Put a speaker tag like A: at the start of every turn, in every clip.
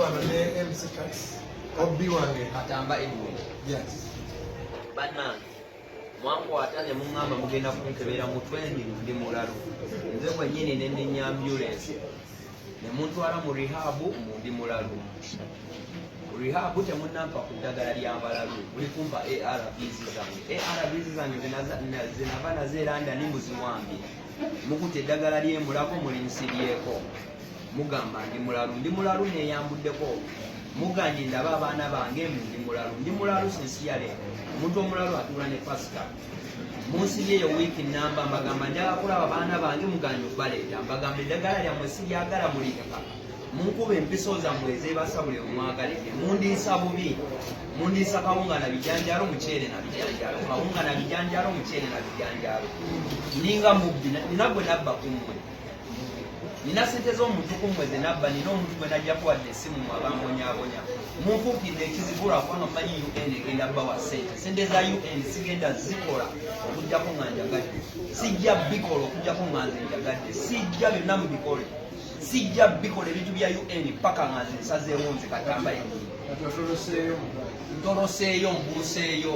A: wano ne MC Tax obbi wange katamba ebwe yes bana
B: mwankwata ne muŋŋamba mugenda kunkebera mutwe ndi ndi mulalu nze kwennyini ne ndinya ambulensi ne muntwala mu rihabu mu ndi mulalu rihabu temunampa ku ddagala lya balalu muli kumpa arvs zange arvs zange zinava nazo eranda ni muziwambi mukuta eddagala lyemulago muli nsiryeko mugamba ndi mulalu ndi mulalu neyambuddeko muganye ndaba abaana bange mbu ndi mulalu ndi mulalu sinsiyale omuntu omulalu atuula ne pasita munsi yeyo wiiki namba mbagamba njala kulaba baana bange muganye okubaleeta mbagamba eddagala lyammwe siryagala mulireka munkuba empiso zammwe ezebasa buli omwagalidde mundiisa bubi mundiisa kawunga na bijanjalo muceere na bijanjalo kawunga na bijanjalo muceere na bijanjalo ninga mubbi nina gwe nabba kummwe nina sente z'omutuku mwe zenabba nina omuntu gwe najjako wadde esimu mwe abambonyabonya munfuukidde ekizibu lwakuba nomanyi un egenda bawa sente sente za un sigenda zikola okujjako nga njagadde sijja bikola okujjako nga nze njagadde sijja byonna mubikole sijja bikola ebintu bya un paka nga nze nsazeewo nze katambaye ntoloseeyo mbuuseeyo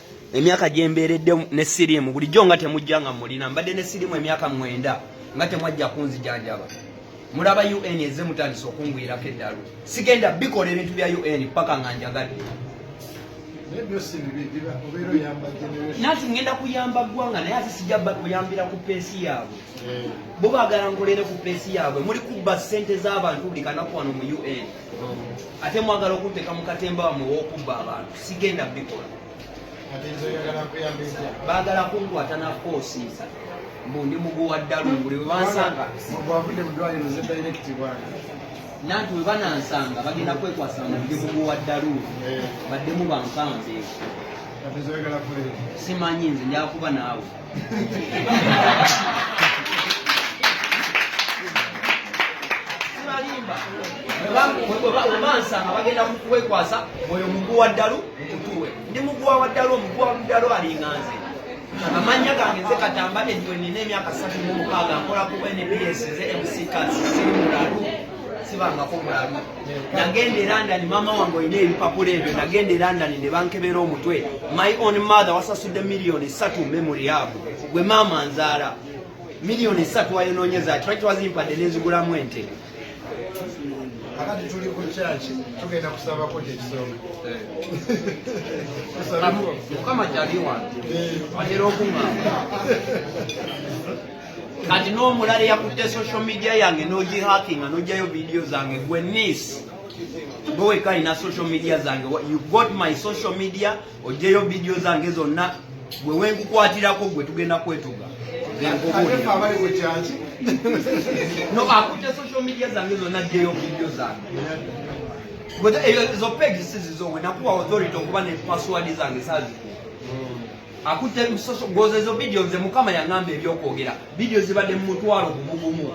B: emyaka gyembeeredde ne siriimu bulijjo nga temujja nga mulina mbadde ne siriimu emyaka mwenda nga temwajja kunzijanjaba mulaba un eze mutandisa okungwirako eddalu sigenda bikola ebintu bya un paka nga njagadde nati ngenda kuyamba ggwanga naye ate sijja kuyambira ku peesi yaabwe eh. bo bagala nkolere ku peesi yaabwe muli kubba ssente z'abantu buli kanaku wano mu un ate mwagala okunteka mukatemba wamwe wokubba abantu sigenda bikola bagala kunkwata nakoosiisa mbu ndi muguwa ddalu buli webansanga nanti webanansanga bagenda kwekwasa mbu ndi muguwa ddalu eh. baddemu bankanze simanyi nze njakuba naawe bansanga bagenda kukwekwasa oyo mugu wa ddalu mutuwe ndi muguwa wa ddalu omuguwa wa ddalu alinga nze amannya gange nze katamba edwe nina emyaka satu mu mukaaga nkola ku nbs nze mc kasi siri mulalu sibangako mulalu nagenda e london mama wange olina ebipapula ebyo nagenda e london ne bankebera omutwe my on mother wasasudde miliyoni esatu memory yabo gwe maama nzaala miliyoni esatu wayononyeza kiraki wazimpadde nenzigulamu ente
A: akati tuli ku kyaki tugenda kusabako kyekisonga
B: mukama kyali wange eh. atera okungamba kati n'omulala eyakutte social media yange n'ogihakinga n'oggyayo vidiyo zange gwe nis gwe wekka alina social media zange you got my social media oggyeyo vidiyo zange zonna gwe wenkukwatirako gwe tugenda kwetuga no akutte social media zange zonna aggyeyo vidiyo zange ezo pegi sizizowe nakuwa authority okuba ne password zange sazikuwa akutte ebisoso gwoza ezo vidiyo nze mukama yaŋamba ebyokwogera vidiyo zibadde mu mutwalo gumugumu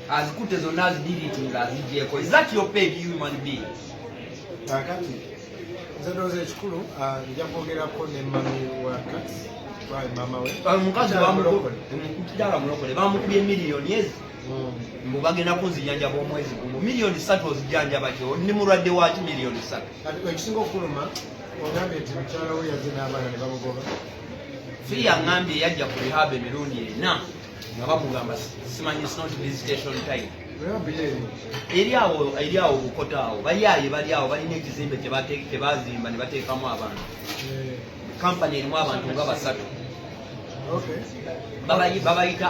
B: azikutte zonna azidiriti nga azigyeko ezat yo peg human being kakati
A: nze ndooza ekikulu ah, nja kwogerako ne mami wa kati omukazi
B: mukidala mulokole bamukubye miliyoni ezi hmm. mbu bagenda kunzijanjaba omwezi gumu miliyoni satu ozijanjaba kyo ni mulwadde waki miliyoni satu ekisinga okuluma
A: ogambye nti mukyala we yazze n'abaana ne bamugoba fi
B: yangambye yajja ku rehab emirundi ena nga bamugamba simanyi snot visitation time eri awo eri awo bukota awo bayaaye bali awo balina ekizimbe kyebazimba ne bateekamu abantu kampani eh. erimu abantu nga basatu babayita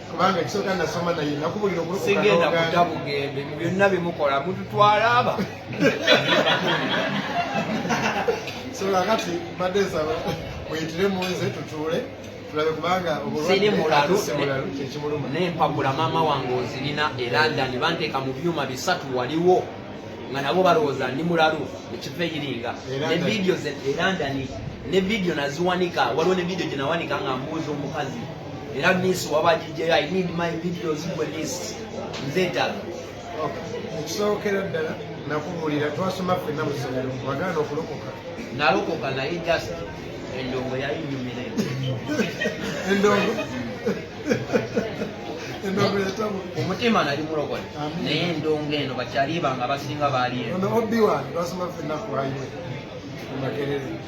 A: kubanga ekisooka nasoma naye nakubulira okusigenda kuta bugembe
B: mu byonna bimukola mututwala aba
A: so kakati mbadde nsaba muyitire mu nze tutuule tulabe kubanga obulwadde mulalu
B: kyekimuluma
A: naye mpagula maama
B: wange ozirina e london banteeka mu byuma bisatu waliwo nga nabo balowooza ndi mulalu ekiva eyiringa ne vidiyo e london ne vidiyo naziwanika waliwo ne vidiyo gye nawanika nga mbuuza omukazi Era miss waba DJ I need my videos for this. Nzeta. Okay. Ekisookera
A: ddala nakubuulira twasoma ffenna mu ssomero wagaana okulokoka. Nalokoka naye
B: just endongo yali nyumira
A: endongo omutima nali mulokole
B: naye endongo eno bakyaliba nga basinga baaliyo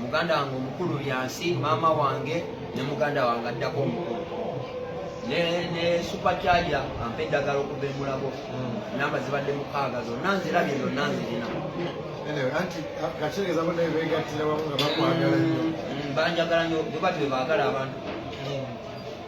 B: muganda wange omukulu byansi maama wange ne muganda wange addako omukulu ne supacharja ampa eddagala okuva emulago hmm. namba zibadde mukaaga zonna nzirabye zonna nzirina
A: banjagala nyo
B: bwebatyo bebagala abantu